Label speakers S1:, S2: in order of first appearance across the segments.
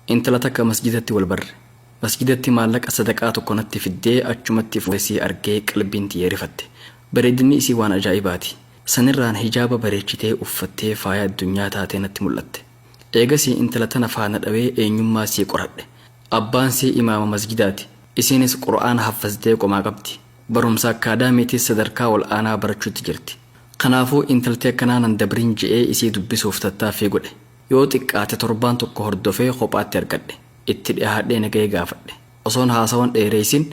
S1: Intala takka masjidatti wal barre. Masjidatti maallaqa sadaqaa tokko natti fiddee achumatti fuudhee isii argee qalbiin tiyya rifatte. Bareedinni isii waan ajaa'ibaati. Sanirraan hijaaba bareechitee uffattee faaya addunyaa taatee natti mul'atte. Eegasii intala tana faana dhawee eenyummaa isii qoradhe. Abbaan isii imaama masjidaati. Isiinis Qur'aana haffazdee qomaa qabdi. Barumsa akkaadaamiitiis sadarkaa ol aanaa barachuutti jirti. Kanaafuu intalti akkanaa nan dabrin je'ee isii dubbisuuf tattaaffii godhe. Yoo xiqqaate torbaan tokko hordofee kophaatti argadhe. Itti dhihaadhee nagaya gaafadhe. Osoon haasawan dheereysin,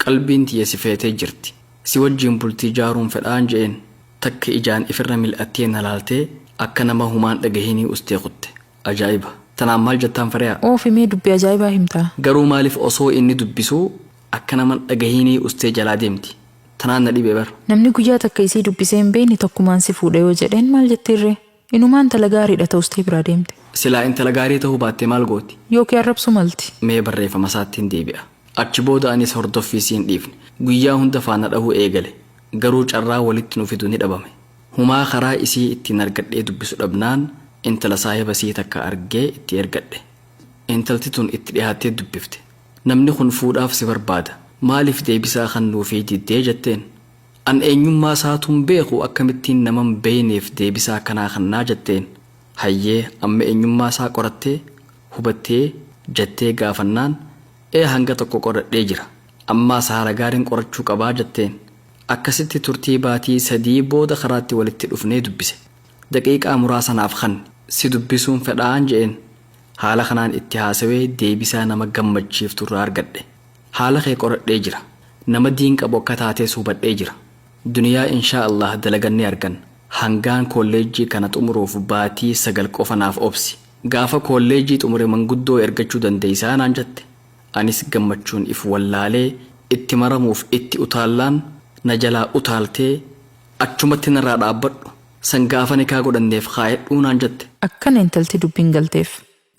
S1: Qalbiin tiyya si feetee jirti. Si wajjiin bultii ijaaruun fedhaan je'een. Takka ijaan ifirra mil'attee na laaltee, akka nama humaan dhagahinii ustee kutte. Ajaa'iba! Tanaan maal jattaan Fariha? Uufi mee dubbi ajaa'ibaa
S2: himtaa? Garuu maalif osoo
S1: inni dubbisuu akka naman dhagahinii ustee jalaa deemti? Tanaan na dhibe bar. Namni guyyaa takka isii
S2: dubbisee hin beeyne takkumaan si fuudha yoo jedheen maal jettiinree? Inumaa intala gaariidha ta'ustee biraa deemte. Silaa intala gaarii
S1: ta'uu baattee maal gooti? Yookiin arrabsuu malti.
S2: Mee barreeffamasaattin
S1: deebi'a. Achi booda anis hordoffii siin dhiifne. Guyyaa hunda faana dhahuu eegale. Garuu carraa walitti nu fidu ni dhabame. Humaa karaa isii ittiin argadhee dubbisu dhabnaan intala saahiba isii takka argee itti ergadhe. Intalti tun itti dhihaattee dubbifte. Namni kun fuudhaaf si barbaada. Maaliif deebisaa kannuufii diddee jetteen. An eenyummaa isaatuun beeku akkamittiin naman beeyneef deebisaa akkanaa kannaa jatteen. Hayyee amma eenyummaa isaa qorattee? Hubattee? jattee gaafannaan Ee hanga tokko qoradhee jira. Ammaas haala gaariin qorachuu qabaa jatteen. Akkasitti turtii baatii sadii booda karaatti walitti dhufnee dubbise. Daqiiqaa muraasa naaf kanni. Si dubbisuun fedhaan je'een. Haala kanaan itti haasawee deebisaa nama gammachiiftu irraa argadhe. Haala kee qoradhee jira. Nama diin qabu akka taatees hubadhee jira. Duniyaa inshaa Allaah dalagan ni arganna. Hangaan koolleejjii kana xumuruuf baatii sagal qofa naaf obsi. Gaafa koolleejjii xumure manguddoo ergachuu dandeessaa naan jette. Anis gammachuun if wallaalee itti maramuuf itti utaallaan na jalaa utaaltee achumatti narraa dhaabbadhu san gaafa nikaa godhanneef kaayadhuu naan jette. Akkana intalti dubbiin
S2: galteef.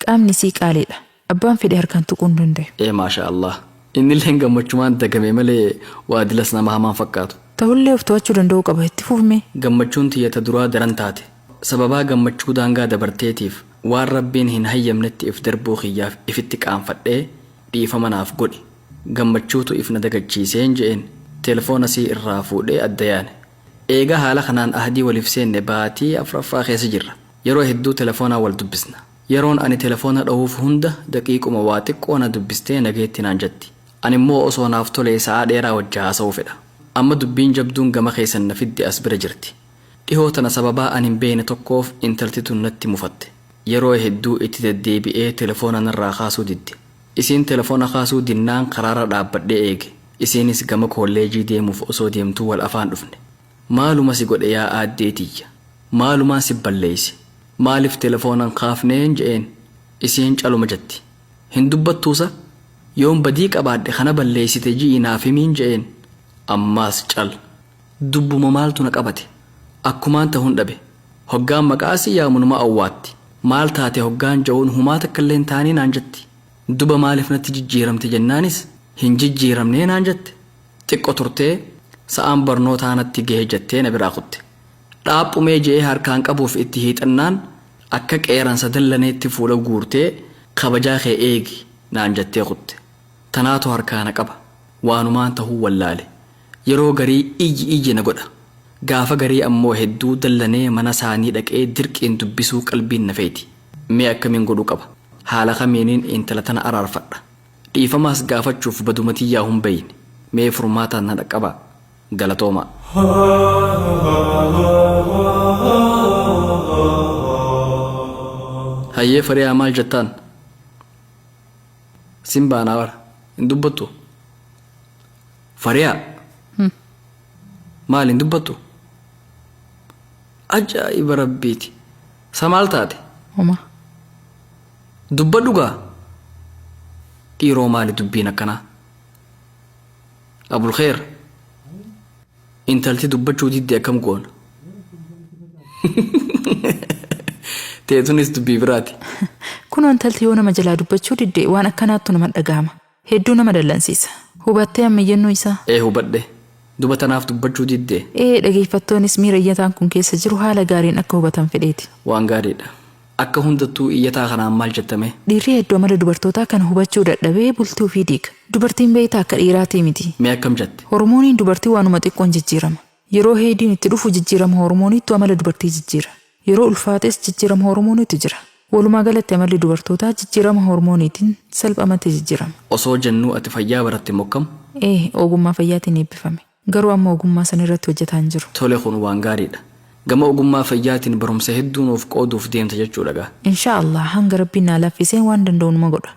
S2: Qaamni isii qaaliidha. Abbaan fedhe harkaan tuquu hin dandayu. Ee maashaa allaah.
S1: Innilleen gammachumaan dagame malee waa dilas nama hamaan fakkaatu. Tahullee of to'achuu
S2: danda'uu qaba. Itti fufi mee. Gammachuun tiyya ta
S1: duraa daran taate. Sababaa gammachuu daangaa dabarteetiif waan Rabbiin hin hayyamnetti if darbuu kiyyaaf ifitti qaanfadhee dhiifama naaf godhi. Gammachuutu if na dagachiiseen je'een telefoona isii irraa fuudhee adda yaane. Eega haala kanaan ahdii waliif seenne baatii afraffaa keessa jirra. Yeroo hedduu telefoonaan wal dubbisna. Yeroon ani telefoona dhohuuf hunda daqiiquma waa xiqqoo na dubbistee nageetti naan jetti. Animmoo osoo naaf tolee sa'aa dheeraa wajji haasa'uu fedha. Amma dubbiin jabduun gama keessan na fidde as bira jirti. Dhihoo tana sababaa ani hin beekne tokkoof intalti tun natti mufatte. Yeroo hedduu itti deddeebi'ee telefoona narraa kaasuu didde. Isiin telefoona kaasuu dinnaan karaarra dhaabbadhee eege. Isiinis gama koolleejii deemuuf osoo deemtuu wal afaan dhufne. Maaluma si godhe yaa aaddee tiyya? Maalumaan si balleeyse? Maaliif telefoona hin kaafneen je'een. Isiin caluma jetti. Hin dubbattuu sa? Yoon badii qabaadhe ka na balleeysite ji'ii naaf himiin je'een. Ammaas cal. Dubbuma maaltu na qabate. Akkumaan tahuun dhabe. Hoggaan maqaa isii yaamu numa awwaatti. Maal taate hoggaan je'uun humaa takkallee hin taanee naan jetti. Duba maaliif natti jijjiiramte jennaanis hin jijjiiramnee naan jette. Xiqqo turtee, sa'aan barnootaa natti gahe jettee na biraa kutte. Dhaaphumee je'ee harkaan qabuuf itti hiixannaan, akka qeeransa dallaneetti fuula guurtee, kabajaa kee eegi naan jettee kutte. Tanaatu harkaa na qaba. Waanumaan tahuu wallaale. Yeroo garii iyyi iyyi na godha. Gaafa garii ammoo hedduu dallanee mana saanii dhaqee dirqiin dubbisuu qalbiin na feyti. Mee akkamiin godhuu qaba? Haala kamiinin intala tana araarfadha? Dhiifamaas gaafachuuf baduma tiyyaahun beeyne. Mee furmaataan na dhaqqabaa. Galatoomaa. Hayyee fariyaa maal jettaan? Sin baanaa bar. Hin dubbattu? Fariyaa! Maal hin dubbattu? Ajaa'iba rabbiiti. Sa maal taate? Homa. Dubbadhu gaa dhiiroo maali dubbiin akkanaa abulkheer intalti dubbachuu didde akkam goona teetunis dubbii biraati Kunoo intalti
S2: yoo nama jalaa dubbachuu didde waan akkanaattu nama dhagahama. Hedduu nama dallansiisa. Hubattee amma iyyannoo isaa? Ee hubadhe.
S1: Duba tanaaf dubbachuu diddee? Ee
S2: dhageeffattoonis miira iyyataan
S1: kun
S2: keessa jiru haala
S1: gaariin
S2: akka hubatan fedheeti. Waan gaariidha. Akka
S1: hundattuu iyyataa kanaan maal jetta mee? Dhiirri heddu amala
S2: dubartootaa kana hubachuu dadhabee bultii ufii diiga. Dubartiin beeyta akka dhiiraatii miti. Mee akkam jatte?
S1: Hormooniin dubartii waanuma
S2: xiqqoon jijjiirama. Yeroo heeydiin itti dhufu jijjiirama hoormooniittu amala dubartii jijjiira. Yeroo ulfaates jijjiirama hoormooniitu jira. Walumaa galatti amalli dubartootaa jijjiirama hoormooniitiin salphamatti jijjiirama. Osoo jennuu ati
S1: fayyaa baratte mokkam? Ee, ogummaa
S2: fayyaatiin eebbifame. Garuu amma ogummaa san irratti hojjataa hin jiru. Tole kun waan gaariidha.
S1: Gama ogummaa fayyaatiin barumsa hedduu nuuf qooduuf deemta jechuudha gaa. Inshaa Allaah hanga
S2: Rabbiin naa laaffiseen waan danda'u numa godha.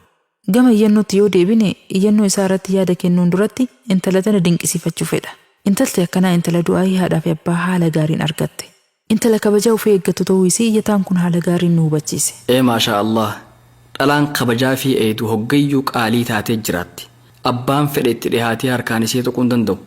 S2: Gama iyyannootti yoo deebine, iyyannoo isaa irratti yaada kennuun duratti intala tana dinqisiifachuu fedha. Intalti akkanaa intala du'aa'ii haadhaa fi abbaa haala gaariin argatte. Intala kabajaa ufii eeggattu ta'uu isii iyyataan kun haala gaariin nu hubachiise. Ee maashaa Allaah!
S1: Dhalaan kabajaa fi eeydu hoggayyuu qaalii taatee jiraatti. Abbaan fedhe itti dhihaatee harkaan isii tuquu hin danda'u.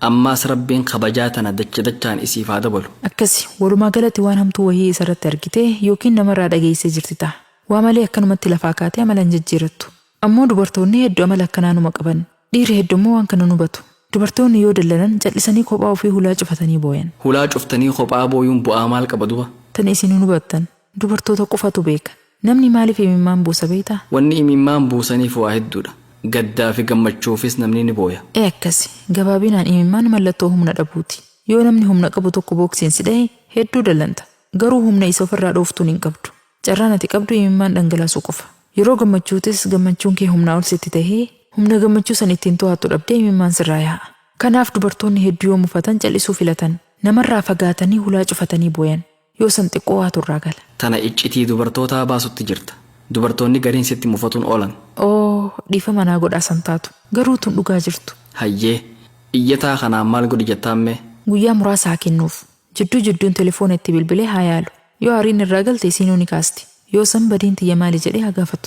S1: Ammaas Rabbiin kabajaa tana dacha dachaan isiif haa dabalu. Akkasi, walumaa
S2: galatti waan hamtuu wahii isa irratti argitee yookiin nama irraa dhageessee jirti taha. Waa malee akkanumatti lafaa kaatee amala hin jijjiirattu. Ammoo dubartoonni heddu amala akkanaa numa qaban. Dhiirri heddu ammoo waan kana hin hubatu. Dubartoonni yoo dallanan cal'isanii kophaa ufii hulaa cufatanii booyan. Hulaa cuftanii kophaa
S1: booyuun bu'aa maal qaba duba? Tana isin hin hubattan.
S2: Dubartoota qofatu beeka. Namni maaliif imimmaan buusa beektaa? Wanni imimmaan
S1: buusaniif waa hedduudha. Gaddaa fi gammachuufis namni ni booya. Ee akkasi.
S2: Gabaabinaan imimmaan mallattoo humna dhabuuti. Yoo namni humna qabu tokko booksiin si dhahe hedduu dallanta. Garuu humna isa ofirraa dhooftuun hin qabdu. Carraan ati qabdu imimmaan dhangalaasuu qofa. Yeroo gammachuutes gammachuun kee humnaa ol sitti tahee, humna gammachuu san ittiin tohattu dhabdee imimmaan sirraa yaa'a. Kanaaf dubartoonni heddu yoo mufatan cal'isuu filatan. Namarraa fagaatanii hulaa cufatanii booyan. Yoo san xiqqoo waatu irraa gala. Tana iccitii
S1: dubartootaa baasutti jirta. Dubartoonni gariin sitti mufatuun oolan. Oo, dhiifama
S2: naa godhaa san taatu. Garuu tun dhugaa jirtu. Hayyee.
S1: Iyyataa kanaan maal godhi jettaammee? Guyyaa muraasa haa
S2: kennuuf. Jidduu jidduun telefoona itti bilbilee haa yaalu. Yoo aariin irraa galte isiinuu ni kaasti. Yoo san badiin tiyya maali jedhee haa gaafatu.